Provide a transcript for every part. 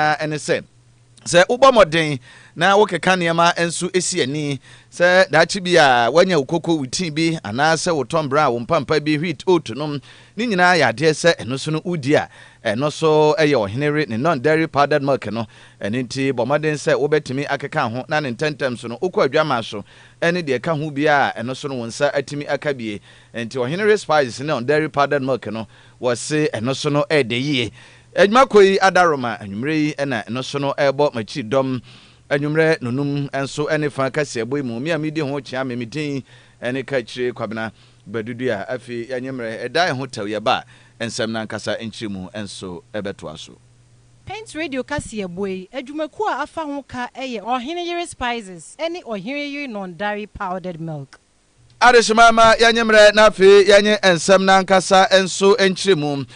ara ne sɛ, sɛ wobɔ mmɔden na wokeka nneɛma nso si ani sɛ daakye bi a woanya wo koko, wo tii bi, anaasɛ wo tɔmmberɛ a wo mpampa bi, wheat, oat nom, ne nyinaa yɛ adeɛ sɛ ɛno so no wodi a, ɛno so yɛ ɔhene were ne non-dairy powdered milk no. Ɛno nti, bɔ mmɔden sɛ wobɛtumi akeka ho na ne ntɛmntɛm so no wokɔ adwammaa so ne deɛ ɛka ho biara a, ɛno so no wo nsa atumi aka bi. Enti ɔhene were spices ne non-dairy powdered milk no, wɔse ɛno so no yɛ dɛ yie. Adwuma kɔ yi adaroma anwumerɛ yi na ɛno so no ɛrebɔ m'akyiri dɔm anwumerɛ nonum nso ne fa kaseɛbɔ yi mu. Me a medi ho kyea me, me din ne Kaakyire Kwabena Badudua. Afei yɛnyɛ mmerɛ ɛda ɛho tɛw, yɛba a nsɛm no ankasa nkyerɛmu nso bɛtoa so. Paint Radio kaseɛbɔ yi adwumakuo a afa ho ka yɛ Ɔhene Yere Spices ne Ɔhene Yere Nɔndare Powdered Milk. Adehyema ma yɛnye mbrɛ na afei yɛnye nsɛm no ankasa nso nkyerɛmu.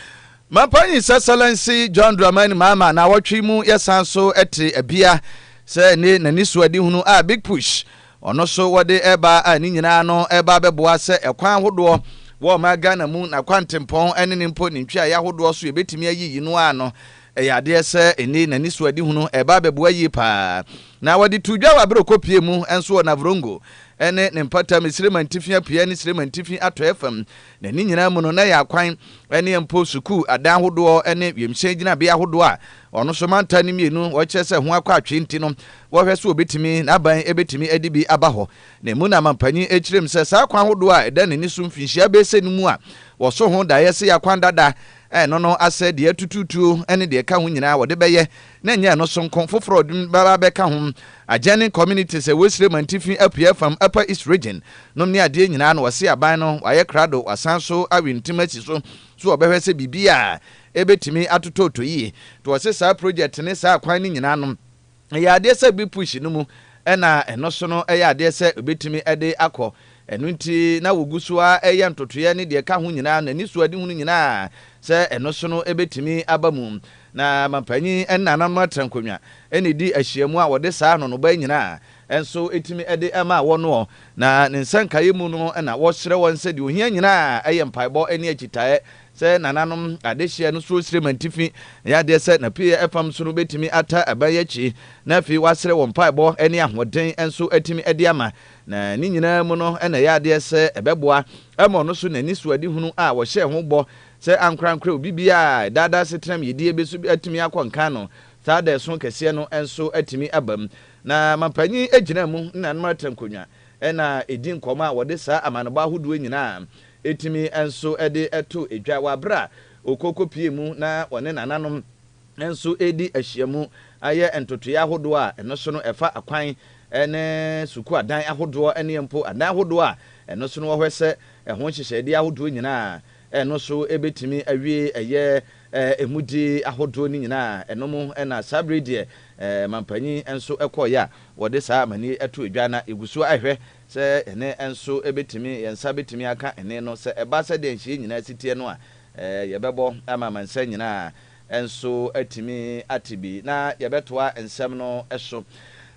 Mampanyin Sɛsɛlɛnse John Dramani Mahama naawɔtwe yi mu yɛsan so te abia sɛ ne n'anisoadehunu a Big Push ɔno so wɔde reba a ne nyinaa no reba abɛboa sɛ ɛkwan ahodoɔ wɔ ɔman Ghana mu na kwantempɔn ne ne mpo ne ntweaeɛ ahodoɔ so yɛbɛtumi ayiyi no ano Ɛyɛ adeɛ sɛ ɛnne na anisoadehunu reba abɛboa yie pa ara. Na wɔde too dwa wɔ Aberokɔ pie mu nso wɔ Navrongo ne ne mpɔtam, Sirema Ntifi Apueɛ ne Sirema Ntifi Atɔeɛ fam, na ne nyinaa mu no na ɛyɛ akwan ne mpo sukuu adan ahodoɔ ne wiemhyɛn gyinabea ahodoɔ a ɔno nso mantam no mmienu wɔkyerɛ sɛ ho akɔ atwee nti no wɔhwɛ sɛ wɔbɛtumi n'aban bɛtumi adi bi aba hɔ. Na ɛmu na amanpanyin kyerɛm sɛ saa akwan ahodoɔ a ɛda n'ani so mfinhyia bɛsɛ no mu a wɔso ho daeɛ sɛ yɛ akwan dada Ɛno no asɛ deɛ atutuutuo ne deɛ ɛka ho nyinaa wɔde bɛyɛ, na ɛnyɛ ɛno so nko, foforɔ a wɔde bɛba abɛka ho, adjoining communities a ɛwɔ Esrem antifi apueɛ fam, Upper East Region, nom ne adeɛ nyinaa na wɔasi aban no, wɔayɛ krado, wɔasan so awe ntim asi so, so wɔbɛhwɛ sɛ biribiara a ɛbɛtumi atotɔɔtɔ yie. To wɔse saa project ne saa akwan no nyinaa nom. Ɛyɛ adeɛ sɛ bi push no mu ɛna ɛno so no ɛyɛ adeɛ sɛ obɛtumi de akɔ. Ɛno nti na wɔgu so ara yɛ ntotoeɛ ne deɛ ɛka ho nyinaa no, anisoadehunu nyinaa sɛ ɛno so no ɛbɛtumi aba mu. Na Mampanin ne Nananom Atrankonnwa na ɛdi ahyiamu a wɔde saa anonobaa nyinaa nso tumi de ma wɔnoɔ. Na ne nsɛnkaeɛ mu no na wɔsrɛ wɔn sɛ deɛ ɔhia nyinaa yɛ mpaebɔ ne akyitaeɛ Sɛ nananom adehyeɛ no soro srɛ mu atifi, ɛyɛ adeɛ sɛ n'apueɛ fam so no bɛtumi ata aban yi akyi, na afei wɔasrɛ wɔ mpaebɔ ne ahoɔden nso atumi de ama. Na ne nyinaa mu no na ɛyɛ adeɛ sɛ ɛbɛboa ama ɔno nso n'anisoadehunu a ɔhyɛɛ ho bɔ sɛ ankorankora obi biara a ɛdaadaa asetenam yiedie bi so atumi akɔ nkan no saa da ɛso kɛseɛ no nso atumi aba mu. Na mampanyin gyinaa mu ne nananom atrankonnwa na ɛdi nkɔmmɔ a wɔde saa amanebɔ ahodoɔ nyinaa Etumi nso de to dwa wɔ bere a okooko pue mu na wɔne nananom nso redi ahyiam ayɛ ntotoeɛ ahodoɔ a ɛno so no ɛfa akwan ne sukuu adan ahodoɔ ne mpo adan ahodoɔ a ɛno so no wɔ hɔ sɛ ɛho nhyehyɛedeɛ ahodoɔ nyinaa ɛno so bɛtumi awie ɛyɛ ɛmudi ahodoɔ no nyinaa ɛno mu na saa bere deɛ mampanyin nso kɔɔeɛ a wɔde saa amanneɛ to dwa na yɛgu so ahwɛ Sɛ yɛne nso bɛtumi, yɛn nsa bɛtumi aka ɛne no, sɛ ɛba sɛdeɛ nhyeɛ nyinaa si teɛ no a, yɛbɛbɔ ama amansan nyinaa nso atumi ate bi, na yɛbɛtoa nsɛm no so.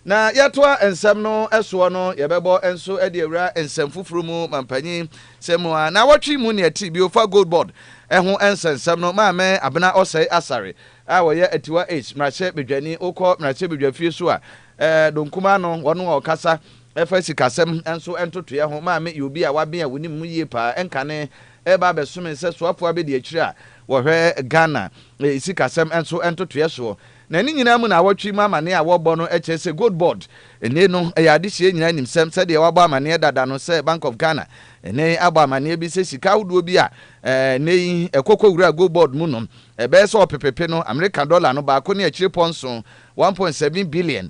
Na yɛtoa nsɛm no soɔ no, yɛbɛbɔ nso de awura nsɛm foforɔ mu, Mampanyin sɛ mu a nawɔtwe mu nea ɛte bio fa Gold Board ho nsɛnsɛm no, Maame Abena Ɔsɛe Asare a ɔyɛ Atiwa East mmarahyɛbadwani, wokɔ mmarahyɛbadwafie so a, Donkum Ano, wɔn a wɔkasa. Ɛfa sikasɛm nso ntotoeɛ ho, Maame yɛ obi a waben a wonim no yie paa. Nkane reba abɛsome sɛ soafoɔ abɛdiakyire a wɔhwɛ Ghana sikasɛm nso ntotoeɛ soɔ. Na ne nyinaa mu no awɔtwe mu amaneɛ a wɔrebɔ no kyerɛ sɛ Gold Board nne no yɛ adehyeɛ nyinaa nim sɛm sɛdeɛ wɔabɔ amaneɛ dada no sɛ Bank of Ghana nne abɔ amaneɛ bi sɛ sika ahodoɔ bi a nnɛ yi ɛkɔ kɔwura Gold Board mu no ɛbɛyɛ sɛ ɔpepepe no Amerika dɔla no baako ne akyirepɔ nson, 1.7 billion,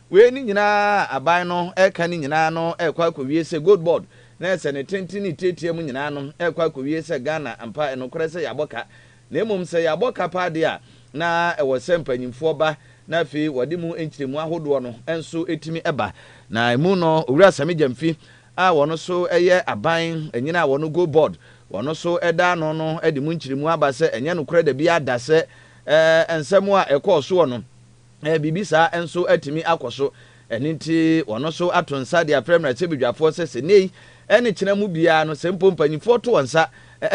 Wei ne nyinaa a aban no reka no nyinaa no rekɔ akɔwie sɛ gold board na ɛsɛ ne tenten ne tiatia mu nyinaa no rekɔ akɔwie sɛ Ghana ampa ɛnokorɛ sɛ yɛabɔ ka na mmom sɛ yɛabɔ ka paa deɛ a na ɛwɔ sɛ mpanyimfoɔ ba na afei wɔde mu nkyerɛmu ahodoɔ no nso tumi ba na ɛmu no Owura Sammy Gyamfi a wɔn nso yɛ aban nyini a wɔn gold board wɔn nso da ano no de mu nkyerɛmu aba sɛ ɛnyɛ nokorɛ dabi ada sɛ ɛɛ nsɛm a ɛkɔɔ soɔ no Ɛ, biribi saa nso atumi akɔ so. Ɛno nti, wɔn nso ato nsa de afrɛ mmarahyɛbedwafoɔ sɛ sɛ nnɛyi ne kyena mu biara no, sɛ mpo mpanimfoɔ to wɔn nsa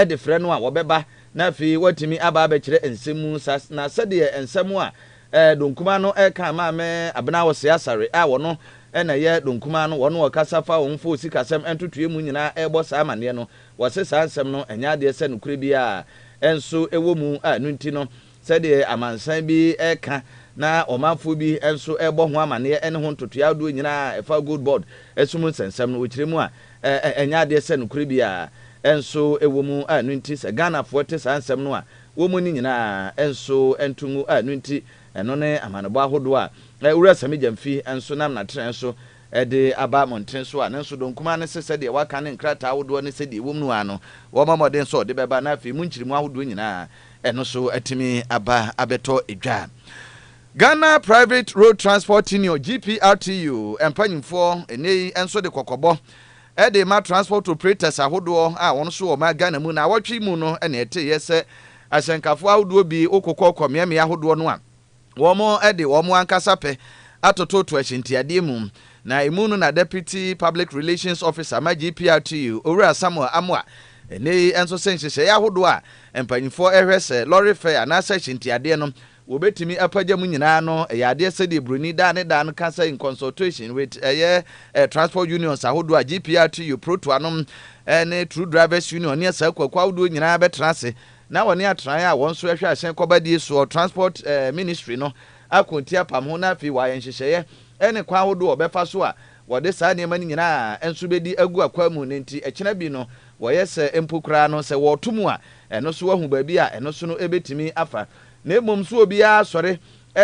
de frɛ no a, wɔbɛba na afei wɔatumi aba abɛkyerɛ nsɛm mu. Sa, na sɛdeɛ nsɛm a ɛ, Donkumaa no ka maa me, Abena Ɔsɛe Asare a wɔn na ɛyɛ Donkumaa no, wɔn a wɔkasa fa wɔn mfoo sikasɛm ntotoeɛ mu nyinaa rebɔ saa amanneɛ no, wɔse saa nsɛm no nyɛ adeɛ sɛ nokorɛ biara nso wɔ mu a ɛno nti no Sɛdeɛ amansan bi reka na ɔmanfoɔ bi nso rebɔ ho amanneɛ ne ho ntotoeɛ ahodoɔ nyina a ɛfa Gold Board sum nsɛnsɛm no, wɔkyerɛ mu a, ɛnyɛ adeɛ sɛ nokorɛ biara nso wɔ mu a ɛno nti sɛ Ghanafoɔ te saa nsɛm no a, wɔmmu ne nyina ara nso nto ngu a ɛno nti ɛno ne amanebɔ ahodoɔ a Owura Sammy Gyamfi nso nam n'atrɛɛ so de aba mmɔntene so a ne nso dɔn kumaa no se sɛdeɛ wɔaka ne nkrataa ahodoɔ ne sɛdeɛ ɛwɔ mu no ara no wɔmmɔ mmɔden sɛ wɔde bɛba na afei mu nkyeremu ahodoɔ nyina ara Ɛno nso atumi aba abɛtɔ dwa. Ghana Private Road Transport Union, GPRTU, mpanyimfoɔ ɛnnɛ yi nso de kɔkɔbɔ de rema transport operators ahodoɔ a wɔn nso wɔma Ghana mu. Naawɔtwe mu no na ɛteeɛ sɛ ahyɛnkafoɔ ahodoɔ bi wokokɔ kɔ mmeammea ahodoɔ no a, Wɔde wɔn ankasa pɛ atototo ahyɛntiadeɛ mu, na ɛmu no na Deputy Public Relations Officer ma GPRTU, Owura Samuel Amoah, ɛnnɛ yi nso se nhyehyɛeɛ ahodoɔ a mpanimfoɔ rehwɛ sɛ lɔre fɛ anaasɛ ahyɛntiadeɛ no wɔbɛtumi apagya mu nyinaa no yɛ adeɛ sɛdeɛ buroni daa ne daa no ka sɛ in consultation with ɛyɛ transport unions ahodoɔ a GPRTU, Proto anom ne True Drivers Union ne asaakuakuo ahodoɔ nyinaa bɛtena ase na wɔne atenae a wɔn nso ɛhwɛ ahyɛn kɔba die soɔ, Transport Ministry, no ako nti apam ho na afei wɔayɛ nhyehyɛeɛ ne kwan ahodoɔ a wɔbɛfa so a wɔde saa nneɛma no nyinaa nso bɛdi agu akwan mu na enti ɛkyena bi no wɔyɛ sɛ mpo koraa no sɛ wɔreto mu a ɛno nso wɔahu baabi a ɛno nso no ɛbɛtumi afa na mmom nso obiara sɔre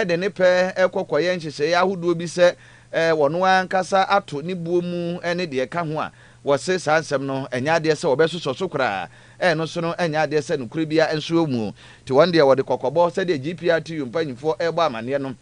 de ne pɛ kɔ kɔyɛ nhyehyɛeɛ ahodoɔ bi sɛ wɔn ara ankasa ato ne buo mu ne deɛ ɛka ho a wɔse saa nsɛm no ɛnyɛ adeɛ sɛ wɔbɛsosɔ so koraa. Ɛno so no, ɛnyɛ adeɛ sɛ nokorɛ biara nso wɔ mu. Nti wɔn deɛ wɔde kɔkɔbɔ, sɛdeɛ GPRTU mpanyimfoɔ rebɔ amaneɛ no,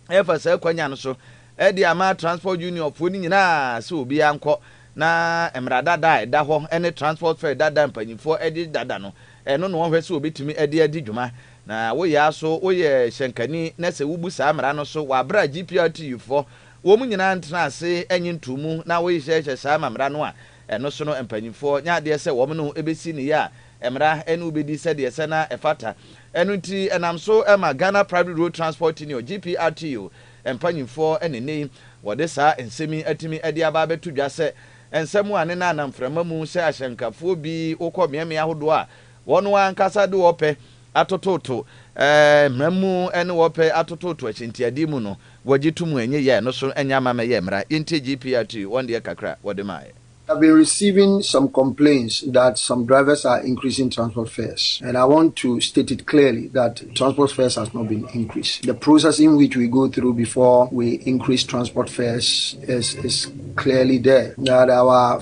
refa saa kwanya no so de ama Transport Unionfoɔ no nyinaa sɛ obiara nkɔ na mmara dada a ɛda hɔ ne Transport Fare dada a mpanyimfoɔ de dada no, ɛno na wɔnhwɛ sɛ wɔbɛtumi de adi dwuma. Na woyɛ ara so, woyɛ hyɛnkani na sɛ wobu saa mmara no so wɔ aberɛ a GPRTUfoɔ wɔn nyinaa ntenaa ase nye ntoo mu na wohyehyɛ saa amammerɛ no a, Ɛno so no mpanyimfoɔ nyɛ adeɛ sɛ wɔn ne wo bɛsi ne yɛ a mmara ne wo bɛdi sɛdeɛ ɛsɛ na ɛfata. Ɛno nti ɛnam so ma Ghana Private Road Transport Union, GPRTU, mpanyimfoɔ na ɛnnɛ yi wɔde saa nsɛm yi atumi de aba abɛto dwa sɛ ɛnsɛ mo a ne nna nam mframa mu sɛ ahyɛnkafoɔ bi wokɔ mmeammea ahodoɔ a wɔn ara ankasa de wɔpɛ atototo mmara mu ne wɔpɛ atototo ahyɛntiadeɛ mu no wɔgye to mu a ɛnyɛ yie a ɛno so nyɛ ama mɛyɛ mmara yɛntie GPRT wɔn deɛ kakra a wɔde maayɛ. I've been receiving some complaints that some drivers are increasing transport fares and I want to state it clearly that transport fares has not been increased. The process in which we go through before we increase transport fares is is clearly there that our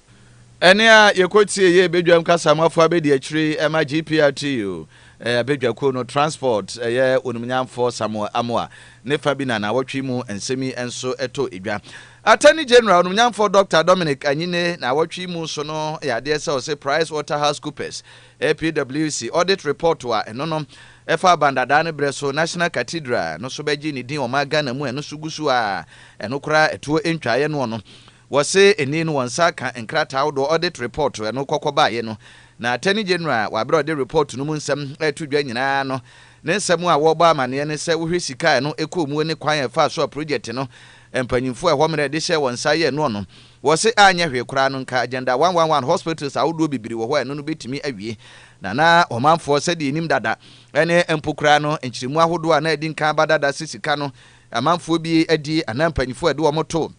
Ɛnne a yɛkɔtiee yɛɛ badwam kasamafo abadiakyiri ma GPRTU badwakuo no, Transport, ɛyɛ Onimnyamfoɔ Samuel Amoah ne fa bi na nnawɔtwe yi mu nsɛm yi nso tɔ edwa. Attorney General Onimnyamfoɔ Dɔkta Dominic Anyine nnawɔtwe yi mu so no yɛ adeɛ sɛ ɔse Price Waterhouse Coopers, PWC, audit report a ɛno no ɛfa aban dadaa no berɛ so National Cathedral no so bɛgye ne din ɔman Ghana mu a ɛno so gu so a ɛno koraa ɛtoɔ ntwaeɛ noɔ no Wɔse nnii no wɔn nsa aka nkrataa ahodoɔ audit report ɛno kɔkɔ baeɛ no, na Attorney General a wɔaberɛ ɔde report no mu nsɛm reto dwa nyinaa no ne nsɛm a wɔrebɔ amaneɛ ne sɛ wohwɛ sika a ɛno ɛkɔɔ muo ne kwan a ɛfaa so a project no mpanyinfoɔ a ɛhɔ mmerɛ de hyɛɛ wɔn nsa yɛɛ noɔ no wɔse anyɛ hwee koraa no nka agenda one one one hospitals ahodoɔ bibiri wɔhɔ a ɛno no bɛtumi awie na na ɔmanfoɔ sɛdeɛ ɛnim dada ɛne mpo koraa no nkyerɛmu ahodoɔ a na adi nkan aba dada se sika no amanfoɔ bi adi anaa mpanyinfoɔ ɛde wɔn too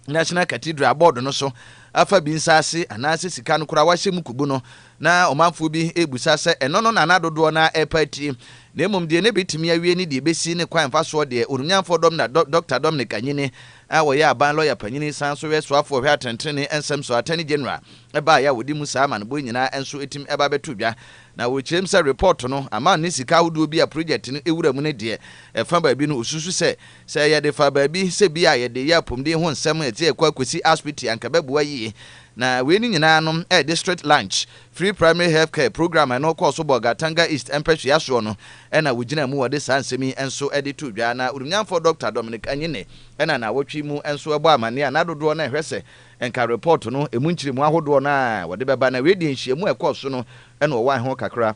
National Cathedral bɔɔdo no so afa bi nsaase anaasɛ sika no koraa wɔahyɛ mu kubu no, na ɔmanfoɔ bi rebisa sɛ ɛno no na na dodoɔ no ara repa atie. Na mmom deɛ na ɛbɛtumi awie ne deɛ ɛbɛsi ne kwan mfa soɔ deɛ, Oromnyanfoɔ dɔm na Dɔkta Dominic Anyini a wɔyɛ aban lɔya panyini san nso yɛ soafoɔ ɔhwɛ atɛntenenee nsɛm so, Attorney General, baeɛ a wɔde mu saa amanebɔ yi nyinaa nso atim ɛba abɛto dwa. Na wɔkyerɛ mu sɛ report no, aman ne sika ahodoɔ bi a project no wura mu no deɛ, ɛfa baabi no ɔsusu sɛ Sɛ yɛde fa baabi sɛ bi a yɛde yɛ apɔmuden ho nsɛm a ɛte ɛkɔ akosi asopiti a anka ɛbɛboa yiye. Na wei no nyinaa no ɛyɛ district lunch, free primary health care, program a ɛno kɔɔ so bɔɔ Gatanga East mpɛsoa soɔ no na wɔgyinaa mu wɔde saa nsɛm yi nso de too dwa. Na Odumnyanfoɔ Dɔkta Dominic Anyine na nnawɔtwe yi mu nso ɛbɔɔ amaneɛ a n'adodoɔ no ɛhwɛ sɛ nka report no ɛmu nkyeremu ahodoɔ no a wɔde bɛba. Na wei deɛ nhyiamu a ɛkɔɔ so no na ɔwɔ ɛho kakra.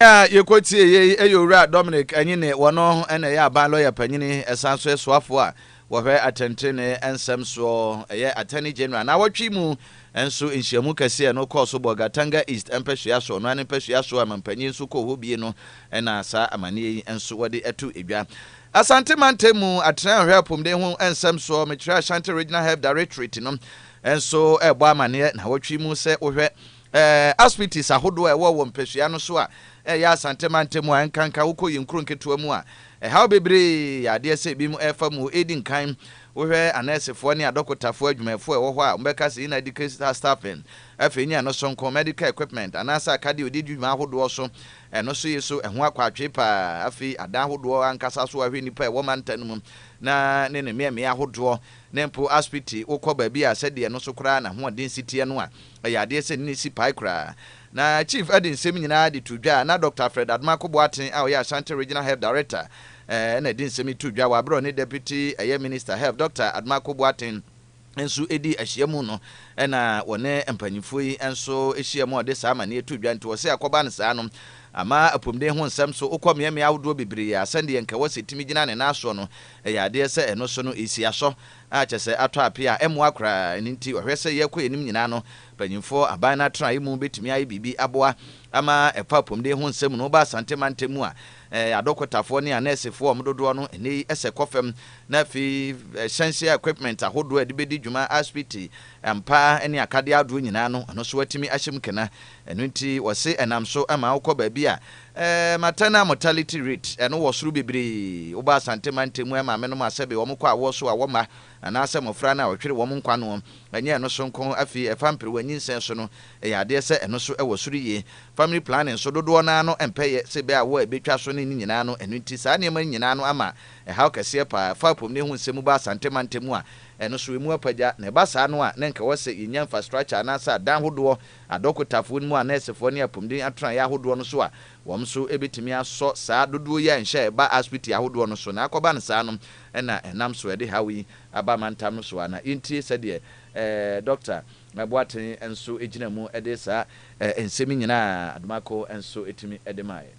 Yɛn a yɛkɔtiee yei yɛ Owura Dominic Anyine, ɔno na ɛyɛ aban lɔya panyin, ɛsan so yɛ soafoɔ a wɔhwɛ atɛntenenee nsɛm soɔ, ɛyɛ Attorney General. Nnawɔtwe yi mu nso nhyiamu kɛseɛ a ɛno kɔɔ so Bolga Tanga East mpasua so, ɔno ara ne mpasua so a mampanyin nso kɔɔ hɔ bie no na saa amanneɛ yi nso wɔde ato dwa. Asante mantam mu atenae a wɔhwɛ apomuden ho nsɛm soɔ, mekyerɛ Ashanti Regional Health Directorate no nso rebɔ amanneɛ nnawɔtwe yi mu sɛ wohwɛ Ɛɛ, aspities ahodoɔ a ɛwɔ wɔ mpasua no so a ɛyɛ Asante mantam mu a ɛnkanka wokɔ yɛn nkuro nketewa mu a, ɛhaw bebree yɛ adeɛ sɛ ebinom refa mu. Edi nkan, wohwɛ anɛɛsefoɔ ne adɔkotafoɔ adwumayɛfoɔ a ɛwɔ hɔ a, wɔbɛka sɛ inadequate staffing. Afei ne ɛno sonko, medical equipment anaasɛ akadeɛ a wɔde di dwuma ahodoɔ so, ɛno nso ye so, ɛho akɔ atwee pa ara. Afei, adan ahodoɔ ankasa so, woahwɛ nnipa a ɛwɔ mantam no mu na ne ne mmeammea ahodoɔ, na mpo aspiti wokɔ baabi a sɛdeɛ ɛno so koraa n'ahoɔden si teɛ no a, Ɛyɛ adeɛ sɛ nne si pae koraa. Na Chief de nsɛm nyinaa de too dwa a na Dɔkta Alfred Adomaako Boateng a ɔyɛ Ashanti Regional Health Director na ɛde nsɛm yi too dwa wɔ aberɛ a ɔne Deputy ɛyɛ Minister Health Dɔkta Adomaako Boateng nso dii ahyiamu no na wɔne mpaninfoɔ yi nso hyiaa mu a ɔde saa amaneɛ too dwa nti ɔse akɔba no saa no ama apomuden ho nsɛm so wokɔ mmeammea ahodoɔ bebree a sɛdeɛ nka wɔ sɛ ɛtumi gyina ne nan soɔ no ɛyɛ adeɛ sɛ ɛno so no ɛsi asɔ a kyerɛ sɛ atɔ ape a ɛmmoa koraa. Ɛno nti, ɔhwɛ sɛ yɛrekɔ yɛn anim nyinaa no, mpanyimfoɔ aban no atenae mu bɛtumi ayɛ biribi aboa. Ama ɛfa apɔmuden ho nsɛm no, woba Asante mantam mu a, adɔkotafoɔ ne anɛɛsefoɔ a wɔn dodoɔ no ɛnnɛ yi sɛ kɔ fam, na afei hyɛnseɛ equipment ahodoɔ a ɛde bɛdi dwuma, asopiti mpa ne akadeɛ ahodoɔ nyinaa no, ɛno nso wɔatumi ahyɛ mu kena. Ɛno nti, wɔse ɛnam so ma wokɔ baabi a Eh, maternal mortality rate, ɛno wɔ soro bebree. Woba Asante mantam mu a, maame nom a sɛbe wɔn kɔ awoɔ so awɔ mma, anaasɛ mmɔfra no a wɔhwere wɔn nkwa noɔ. Ɛnyɛ ɛno so nko, afei ɛfa mperewa nyinsɛn so no, ɛyɛ adeɛ sɛ ɛno nso ɛwɔ soro yie. Family planning nso, dodoɔ no ara no mpɛ yɛ sɛ bɛ awoɔ a ɛbɛtwa so ne ne nyinaa no, ɛno nti saa nneɛma yi nyinaa no ama ɛhaw kɛseɛ pa ara. Fa apɔmuden ho nsɛm mu ba Asante mantam mu a, ɛno nso ɛmu apagya. Na ɛba saa no a, na nka ɛwɔ sɛ yɛnya infrastructure anaasɛ adan hodoɔ adɔkotafoɔ no mu a nɛɛsefoɔ ne apomuden atenaeɛ ahodoɔ no so a, wɔn nso bɛtumi asɔ saa dodoɔ yi a nhyɛ a ɛba asopiti ahodoɔ no so na akɔba no saa no na ɛnam so a ɛde haw yi aba amantam no so a na yɛntie sɛdeɛ eh, Dɔkta Boateng nso gyina mu de saa eh, nsɛm yi nyinaa a Adomako nso tumi de maeɛ.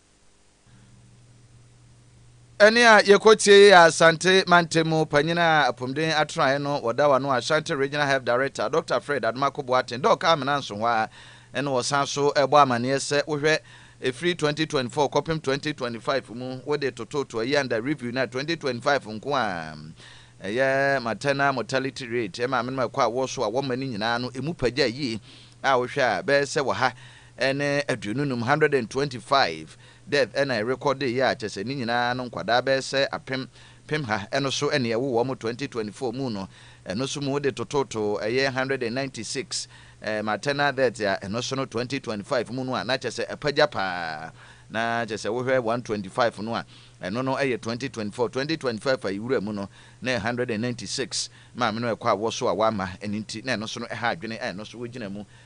Ɛnne a yɛkɔtiei yɛ Asante mantamu panyin a apomden atenaeɛ no wɔ Dawano Ashanti Regional Health Director Dɔkta Fred Adomako Boateng, Doc Amina Nsohwa, ɛnna ɔsan so bɔ amanneɛ sɛ wohwɛ ɛfiri 2024 kɔpem 2025 mu wode toto Toayanda Review no a 2025 nko a ɛyɛ maternal mortality rate, maamenom a ɛkɔ awoɔ so a wɔma no nyinaa no, ɛmu pa gyae yie a wohwɛ a bɛyɛ sɛ wɔ ha ne aduonu num, hundred and twenty five, death ɛna ɛrekɔde yi a kyɛsɛ ne nyinaa no nkwadaa bɛɛsɛ apem pem ha ɛno so ɛne ɛwo wɔn mo twenty twenty four mu no ɛno so mu de tototo ɛyɛ hundred and ninety six ɛɛ maternal death a ɛno so no twenty twenty five mu no a na kyɛsɛ apagya paa na kyɛsɛ wohwɛ one twenty five no a ɛno no ɛyɛ twenty twenty four twenty twenty five a yɛwura mu no na ɛyɛ hundred and ninety six maame no ɛkɔ awɔ so a wama ɛne nti na ɛno so no ɛha adwene a ɛno so wogyina mu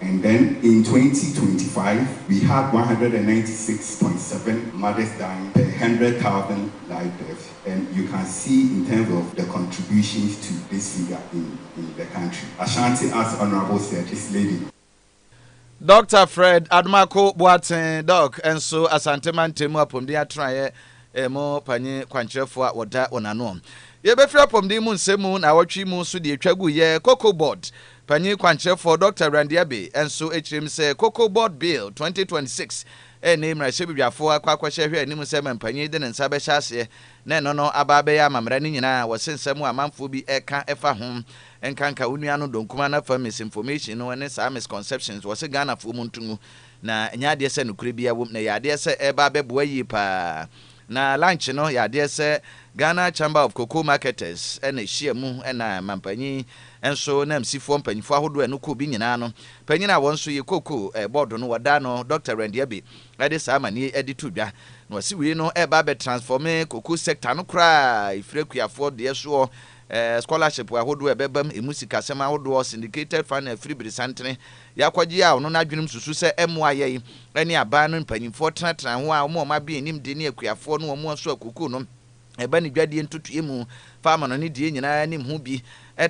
And then in twenty twenty five we had one hundred and ninety six point seven mothers dying per hundred thousand live birth and you can see in terms of the contributions to this figure in in the country Ashanti as Honourable said is leading. Doctor Fred Adomako Boateng, Doc, nso Asante Mantam mu apɔmuden atenaeɛ mu panyin kwankyerɛfoɔ a wɔda wɔn ano. Yɛbɛfiri apɔmuden mu nsɛm mu nnawɔtwe mu nso deɛ ɛtwa guiɛ, Cocoa Board, Panyin kwankyerɛfoɔ Dɔkta Randy Abbey nso kyerɛm sɛ Cocoa Board Bill 2026 nni mmarahyɛbedwafoɔ akɔ akɔhyɛ hwɛ anim sɛ manpanyin de ne nsa bɛhyɛ aseɛ na ɛno no aba abɛyɛ amammerɛ ne nyinaa a wɔse nsɛm a amanfoɔ bi ɛka ɛfa ho nkanka wo nua no dɔnkuma no afa misinformation no ne saa misconceptions wɔse Ghanafoɔ mu nto ngu na ɛnyɛ adeɛ sɛ nokorɛ biara wom na ɛyɛ adeɛ sɛ ɛreba abɛboa yie paa Na lunch no yɛ adeɛ sɛ Ghana Chamber of Cocoa Marketers na ɛhyia mu ɛna manpanyin nso ne amsifoɔ mpanyinfoɔ ahodoɔ a ɛno kuo bi nyinaa no panyin a wɔn nso yɛ cocoa board no wɔdaa no Doctor Randy Abey de saa amaneɛ yi de to dwa na ɔse wei no ɛreba abɛ transforme cocoa sector no koraa ɛfiri akuafoɔ deɛ soɔ scholarship ahodoɔ a ɛbɛbam ɛmu sikasɛm ahodoɔ syndicated funding afiri beresantene Yɛakɔgye a ɔno n'adwenem susu sɛ ɛmmoa yɛn ne aban no mpanimfoɔ tenatena ho a wɔn a wɔn abea nnim de ne akuafoɔ ne wɔn aso akuku no ba ne dwadie ntotoeɛ mu fa amanɔne die nyinaa anim ho bi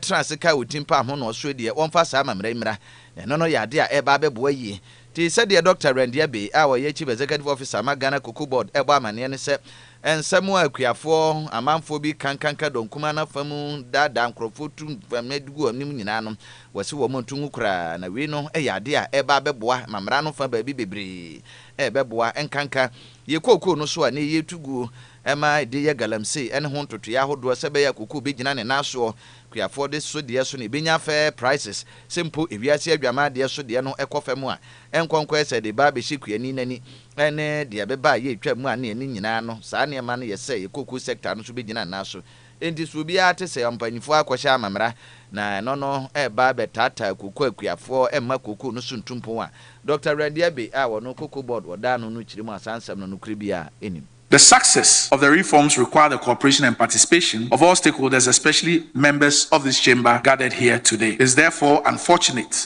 tra ase kae wɔ Timpan ho no ɔsoɛ deɛ wɔmfa saa amammerɛ mmra na ɛno no yɛ adeɛ a ɛreba abɛboa yie te sɛdeɛ Dɔkta Randy Abey a ɔyɛ Chief Executive Officer ma Ghana Cocoa Board bɔ amanneɛ no sɛ nsɛm a akuafoɔ amanfoɔ bi ka nkanka dɔnkumaa no afa mu daadaa nkorɔfoɔ tu mframa gu wɔn anim nyinaa no Wɔse wɔn nto ngu koraa, na wei no yɛ adeɛ a ɛreba abɛboa ma mmara no fa baabi bebree ɛrebɛboa, nkanka yɛn kookoo no so a nnɛ yi yɛretu guo ma ɛde yɛ galamsey ne ho ntotoeɛ ahodoɔ sɛ ɛbɛyɛ a kookoo bɛgyina ne nan soɔ. Kuafoɔ de so deɛ so na ɛbɛnya fair prices, sɛ mpo ewiase adwaman deɛ so deɛ no kɔ fam a, nkɔnkɔɛ sɛ ɛde ba abɛhyɛ kuani no ani ne deɛ ɛbɛba a yɛretwa mu a ne ɛne nyinaa no saa nneɛma no yɛ sɛ yɛn kookoo sector no nso bɛgyina ne nan so. Enti so obiara te sɛ ɔmpanyimfo akɔhyɛ amammerɛ na ɛno no reba abɛtaataa koko akuafoɔ mma koko no so ntu mpɔn a? Dɔkta Randy Abbey a ɔno Cocoa Board wɔdaa ano no kyerɛ mu a saa nsɛm no nokorɛ biara nnim. The success of the reforms require the cooperation and participation of all stakeholders, especially members of this chamber gathered here today. It's therefore unfortunate.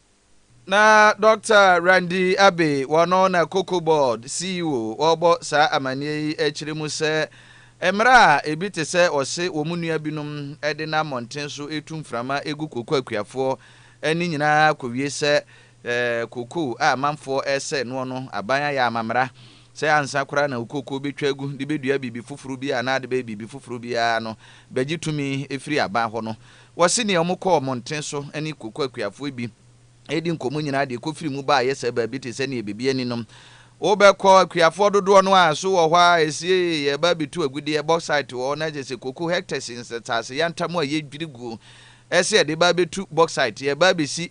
Na Dɔkta Randy Abbey, wɔno na Cocoa Board CEO ɔrebɔ saa amanneɛ yi kyerɛ mu sɛ mmara a ebi te sɛ wɔse wɔn nua binom de nam mmɔnten so retu mframa gu koko akuafoɔ ani nyinaa akɔwie sɛ koko a amanfoɔ resɛe noɔ no aban ayɛ amamera sɛ ansa koraa na koko bɛtwa agu de bɛdua biribi foforo biara anaa de bɛyɛ biribi foforo biara no bɛgye tumi firi aban hɔ no Wɔse nea wɔkɔɔ mmɔnten so ne koko akuafoɔ bi redi nkɔmmɔ nyinaa deɛ ɛkɔfiri mu ba ayɛ sɛ baabi te sɛ nea biribi ani no. Wobɛkɔ, akuafoɔ dodoɔ no ara so wɔ hɔ a, ɛsiee, yɛreba abɛtu agudeɛ, bauxite wɔ hɔ, na kyerɛ sɛ koko hɛktɛse nsase yantam a yɛdwiri guo sɛ yɛde reba abɛtu bauxite, yɛreba abɛsi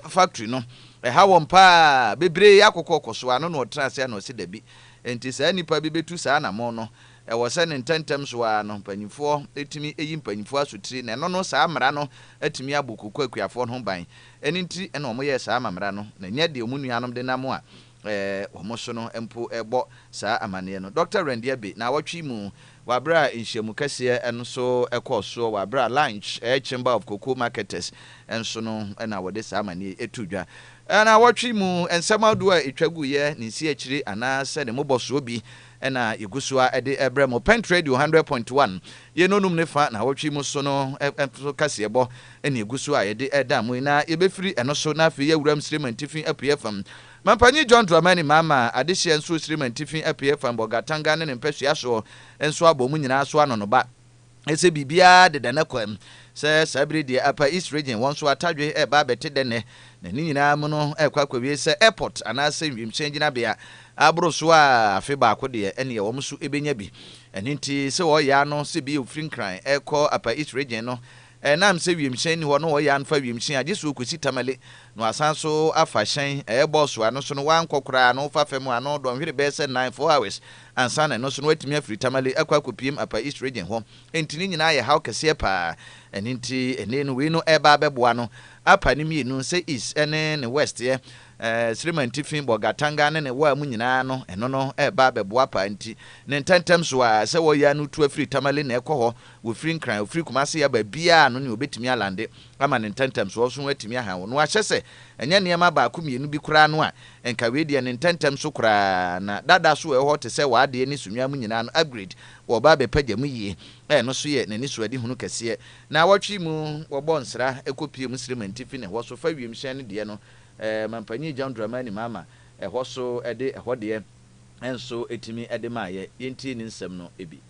factory no. Ɛha wɔn pa ara, bebree akokɔ kɔsoa, ano na wɔtena ase a na wɔse dabi. Enti saa nnipa bi bɛtu saa anammɔn no. Ɛwɔ sɛ no ntɛmntɛm so ara no mpaninfoɔ tumi yi mpaninfoɔ asotire na ɛno no saa mmara no atumi abɔ koko akuafoɔ no ho ban. Ɛno nti na wɔn yɛɛ saa ma mmara no na nyɛ deɛ wɔn nuanom denam a wɔn so no mpo bɔ saa amaneɛ no. Dɔkta Randia Be naawɔtwe yi mu. Wɔ aberɛ a nhyiamu kɛseɛ nso kɔɔ soɔ wɔ aberɛ a lunch ɛyɛ Chamber of Cocoa Marketers nso no na wɔde saa amaneɛ yi too dwa. Naawɔtwe yi mu nsɛm ahodoɔ a ɛtwa guiɛ, ne nsiakyire anaa sɛ ne mmobɔsoɔ bi na yɛgu so ara de rebrɛ mo Pent Radio Hundred Point One yei nnɔnum ne fa nnawɔtwe yi mu so no nso kaseɛbɔ na ɛgu so a yɛde reda mo yi, na yɛbɛfiri ɛno so na afei yɛawura Msirima Ntifi Apueɛ fam Mampanyin John Dramani Mahama adehyeɛ nso Sirima Ntifi Apueɛ fam Bolgatanga ne ne mpɛsua soɔ nso abɔ mu nyinaa so anɔnoba. Ɛsɛ biribiara deda n'akwam sɛ saa bere deɛ apa East Region wɔn so atadwe reba abɛte dɛ nnɛ, na ne nyinaa mu no ɛrekɔ akɔwie sɛ airport anaasɛ wiemhyɛn gyinabea aboro so a afe baako deɛ ɛneɛ wɔn nso bɛnya bi. Ɛno nti sɛ wɔreyɛ ano sɛ bi a ɔfiri Nkran rekɔ apa East Region no ɛnam sɛ wiemhyɛn nni hɔ na wɔreyɛ ano fa wiemhyɛn a gye sɛ ɔkɔsi Tamale na wasan nso afa hyɛn ɛyɛ bɔɔso ano so no wankɔ koraa na wofa fam a na ɔdɔnhwere bɛyɛ sɛ nnan, four hours. ansa na ɛno nso no atumi afiri Tamale akɔ akɔpiem Upper East Region hɔ. Enti ne nyinaa yɛ haw kɛseɛ pa ara. Ɛno nti ɛnnɛ yi no wei no reba abɛboa no apa ne mmienu sɛ East ne ne West'eɛ, Srimantifi, Bolgatanga ne ne Waa mu nyinaa no, ɛno no reba abɛboa pa ara nti ne ntɛntɛm so ara sɛ wɔreyɛ ano tu afiri Tamale na ɛkɔ hɔ, wɔfiri Nkran, wɔfiri Kumase yɛ baabiara no nea ɔbɛtumi alande. ama ne ntɛntɛmsoɔ nso ho atumi aha wo. Na wɔahyɛ sɛ ɛnyɛ nneɛma baako mmienu bi koraa no a, nka wei deɛ ne ntɛntɛm so koraa na dada so ɛwɔ hɔ te sɛ w'adeɛ ne Sunnah mu nyinaa no upgrade wɔ ɔbaa bɛpagya mu yie. Ɛno nso yɛ n'anisoadehunu kɛseɛ. Naawɔtwe mu, wɔbɔ nsra kɔpie mu srɛ manti fi ne hɔ so fa wiemhyɛn no deɛ no, Mampanyin John Dramani Mahama ɛhɔ so de ɛhɔ deɛ nso tumi de maeɛ. Yɛntie ne nsɛm no bi.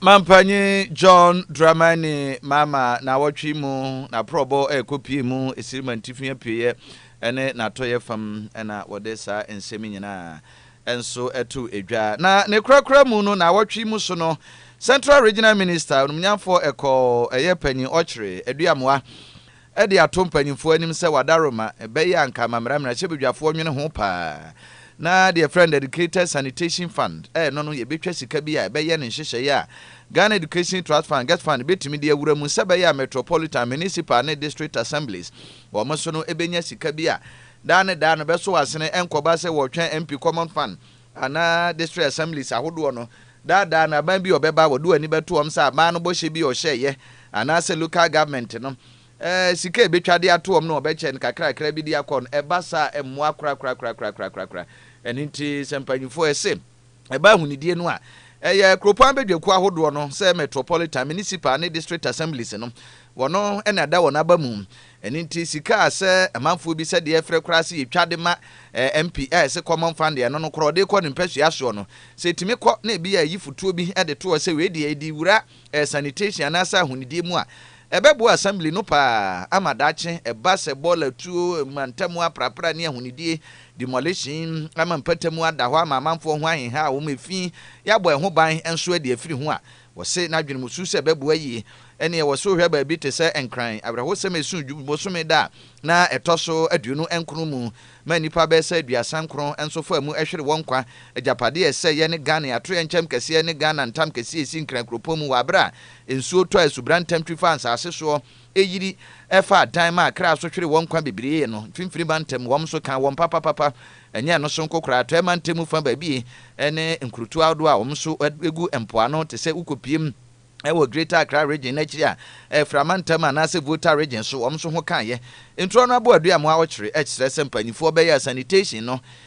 Mampanyin John Dramani Mahama n'awɔtwe yi mu n'aprɔbɔ rekɔpue mu Esirim Antifi Apueeɛ ne n'Atɔeɛ fam na wɔde saa nsɛm nyinaa nso too edwa. Na ne korakora mu no, n'awɔtwe mu so no, Central Regional Minister, Onumnyamfoɔ Ɛkɔɔ Ɛyɛ Panyin Ɔkyere Aduamoa de ato mpanyimfoɔ anim sɛ wada roma, ɛbɛyɛ a anka ama mmerɛmerɛahyɛbadwafoɔ nwene ho paa, na deɛ yɛfrɛ no Dedicated Sanitation Fund no no, yɛbɛtwa sika bi a ɛbɛyɛ ne nhyehyɛeɛ a Ghana Education Trust Fund, GETFund, bɛtumi de awura mu sɛ ɛbɛyɛ a Metropolitan, Municipal ne District Assemblies wɔn so no bɛnya sika bi a daa ne daa no bɛso asene, ɛnkɔba sɛ wɔretwɛn MP Common Fund anaa District Assemblies ahodoɔ no daadaa no aban bi a ɔbɛba a wɔde wɔn ani bɛto wɔn sɛ aban no bɔhyɛ bi a ɔhyɛeɛ anaasɛ Local Government no sika a ɛbɛtwa de ato wɔn no wɔbɛkyɛ no kakrakra bi de akɔ no, ɛba saa a ɛmmoa korakorakorakorakorakorakora. Ɛno nti sɛ mpanyimfoɔ ɛse ɛba ahunidie no a, ɛyɛ kuropɔn abadwakuo ahodoɔ no sɛ Metropolitan, Municipal ne District Assemblies no Wɔno na ɛda wɔn aba mu. Ɛno nti sika a sɛ amanfoɔ bi sɛ deɛ frɛ koraa sɛ yɛtwa de ma eh, MP a ɛse common fund deɛ ɛno no korɔ ɔde kɔ ne mpasua soɔ no sɛ ɛtumi kɔ na ebi a ɛyi fotuo bi de toɔ sɛ wei deɛ ɛdi wura eh, sanitation anaasɛ ahonidie mu a ɛbɛboa assembly no paa ama daakye ɛba sɛ bɔɔla tuo mantamu aprapra ne ahonidie demolition ama mpatamu ada hɔ ama amanfoɔ ho aheha a wɔn efi yɛabɔ ɛho ban nso adi afiri ho a Wɔse n'adwene mu su sɛ ɛbɛboa yie. Ɛnneɛ ɛwɔ sɛ wohwɛ baabi te sɛ Nkran awerɛhosɛm a ɛso dwu bosome da a na ɛtɔ so aduonu nkron mu ma nnipa bɛyɛ sɛ aduasa nkron nso faa mu hwere wɔn nkwa agyapadeɛ a ɛsɛeɛ ne Ghane atoyerɛnkyɛm kɛseɛ ne Ghana ntam kɛseɛ a ɛsi Nkran kuropɔn mu wɔ aberɛ a nsuo tɔ a asubra ntam twi faa nsaase soɔ Eyiri ɛfa adan ma akra so hwere wɔn nkwa bebiree no mfimfini mantam, wɔn so ka wɔn papapapa, ɛnyɛ ɛno so nko koraa, atɔɛ mantamu fa baabi ne nkurutu ahodoɔ a wɔn so gu mpoano te sɛ wokɔpiem wɔ Greater Accra Region no akyiri a ɛfra mantam anaasɛ Volta Region so wɔn so ho kaeɛ. Ntorɔ no aboa dua mmoa ɔkyere, ɛkyerɛ sɛ mpaninfoɔ bɛyɛ a sanitation no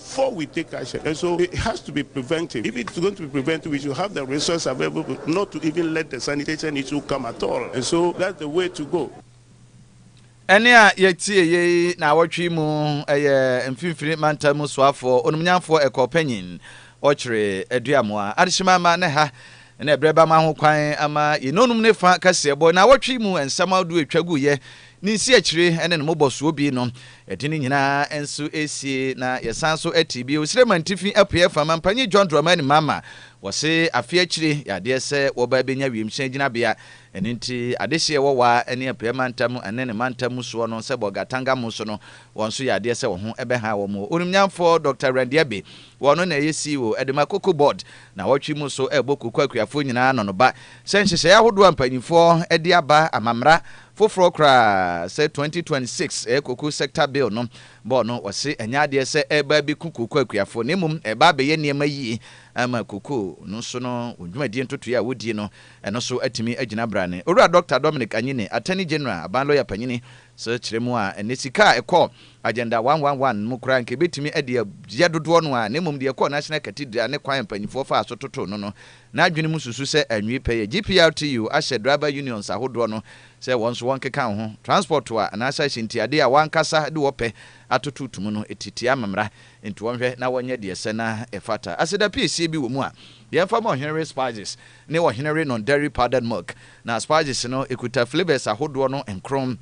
Before we take action and so it has to be preventive if it's going to be preventive we should have the resource available not to even let the sanitation issue come at all and so that's the way to go. Ɛnne a yɛtieeɛ yi naawɔtwe yi mu yɛ Mfimfini Mantam mu soafoɔ, onumnyamfoɔ ɛkɔɔ panyin, ɔkyere aduamoa, adehyema ama ne ha ne ɛberɛ ba ma ho kwan ama yɛnonum ne fa kaseɛbɔ. Naawɔtwe yi mu nsɛm ahodoɔ a ɛtwa guiɛ Ne nsi akyire ne ne mobɔsoɔ bi no, yɛde ne nyinaa nso sie na yɛsan so te bio. Sirema ntifi apueɛ fa, Mampanyin John Dramani Mahama, wɔse afe akyire yɛ adeɛ sɛ wɔba bɛnya wiemhyɛn gyinabea. Ɛno nti adehyeɛ wɔ Wa ne Apueɛ mantam ne ne mantam mu soɔ no sɛ Bolga Tanga mu so no, wɔn nso yɛ adeɛ sɛ wɔn ho bɛha wɔn. Onimnyamfoɔ Dɔkta Randy Abbey, wɔno na ɛyɛ CEO de ma Cocoa Board, nawɔtwe mu so rebɔ Cocoa akuafoɔ nyinaa anonoba sɛ nhyehyɛeɛ ahodoɔ a mpanyinfoɔ de aba ama mmara Foforɔ koraa sɛ 2026 ɛyɛ Cocoa Sector Bill no bɔɔ no, wɔse ɛnyɛ adeɛ sɛ ɛreba abɛku cocoa akuafoɔ na mmom ɛreba abɛyɛ nneɛma yie ama cocoa no nso no wɔn dwumadie ntotoeɛ a wɔdie no ɛno nso atumi agyina brane. Owura Dɔkta Dominic Anyine, Attorney General, Aban Lɔya Panyini, nso kyerɛ mu a ɛnnɛ sika a ɛkɔɔ Agenda 111 mu koraa nka ɛbɛtumi de agyɛ dodoɔ no ara na mmom deɛ ɛkɔɔ National Cathedral ne kwan a mpaninfoɔ faa so totoo no no N'adwene mu susu sɛ anwie pɛ yɛ GPRTU ahyɛ driver unions ahodoɔ no sɛ wɔn nso wɔnkeka ho transport a anaasɛ ahyɛntiadeɛ a wɔankasa de wɔ pɛ atoto to mu no ti tia mmara nti wɔnhwɛ na wɔnyɛ deɛ ɛsɛ na ɛfata. Aseda piesie bi wɔ mu a yɛmfa ma Ɔhene Re Spices ne Ɔhene Re Non-Dairy Powdered Milk na spices no kuta flavours ahodoɔ no nkron.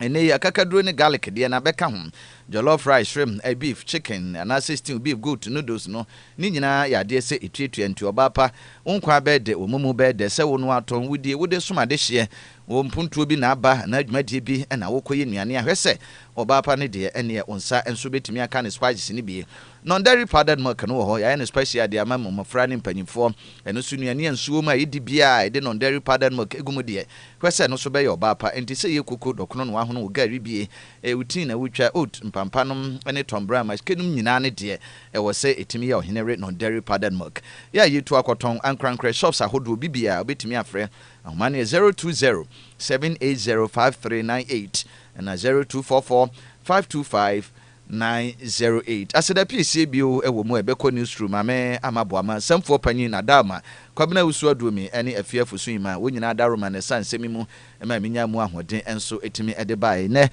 Ɛnnɛ yi, akakaduro ne garlic deɛ na bɛka ho. Jollof rice, shrimp, beef, chicken, anaasɛ stew, beef, goat, noodles no, ne nyinaa yɛ adeɛ sɛ ɛtuatua. Nti ɔbaa pa, wo nkwa bɛyɛ dɛ, wo momo bɛyɛ dɛ, sɛ wonoa tɔn, wodie, wode som adehyeɛ, wo mpontuo bi na aba anaa dwumadie bi na wokɔyɛ nnuane a, hwɛ sɛ ɔbaa pa no deɛ, ɛnneɛ wo nsa nso bɛtumi aka ne spices no bi. Non-dairy powdered milk no wɔ hɔ, yɛayɛ no special de ama mmofra ne mpanyimfoɔ. Ɛno nso nnuane a nsuo wom a yɛdi biara a yɛde non-dairy powdered milk gu mu deɛ, hwɛ sɛ ɛno nso bɛyɛ ɔbaa pa. Enti sɛ yɛ koko, dɔkono na woahono wo gari bie, ɛyɛ wo tii na woretwa, oat, mpampa nom ne tɔmbrɛ maske nom nyinaa no deɛ, ɛwɔ sɛ ɛtumi yɛ ɔhene were non-dairy powdered milk. Yɛ a yɛtu akɔtɔn ankorankorɛ shops ahodoɔ bi biara wobɛtumi afrɛ. Ahoma no yɛ zero two zero, seven eight zero, five three nine eight ɛna zero two four four, five two five, nine zero eight. Aseda pii sie bio wɔ mu a ɛbɛkɔ Newsroom, Maame Ama Boama, Samfua Panyin Adalma, Kwabena Awusu Aduomi ne Afie Afosu Imah, wɔn nyinaa Daroma na ɛsaa nsɛm yi mu ma menyaa mu ahoɔden nso tumi de baeɛ. Nnɛ,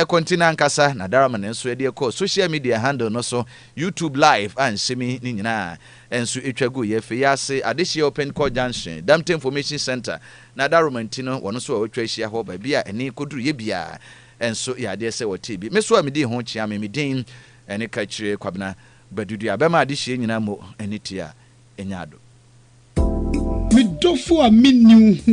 kɔnti no ankasa na Daroma no nso de kɔɔ social media handle no so, YouTube live a nsɛm yi ne nyinaa nso twa guiɛ. Afei yi ase, adehyeɛ wɔ Pentecourt Junction, Damte Information Centre, na Daroma nti no, wɔn nso a wɔatwa ahyia hɔ, baabi a ɛne kɔduruyɛ biara. nso yɛ adeɛ sɛ wɔtee bi. Me so a medii ho kyeame me din ne Kakyire Kwabena Badudu a bɛma adehyeɛ nyina mo ani te a ɛnya ado. Me dɔfo a menni wo ho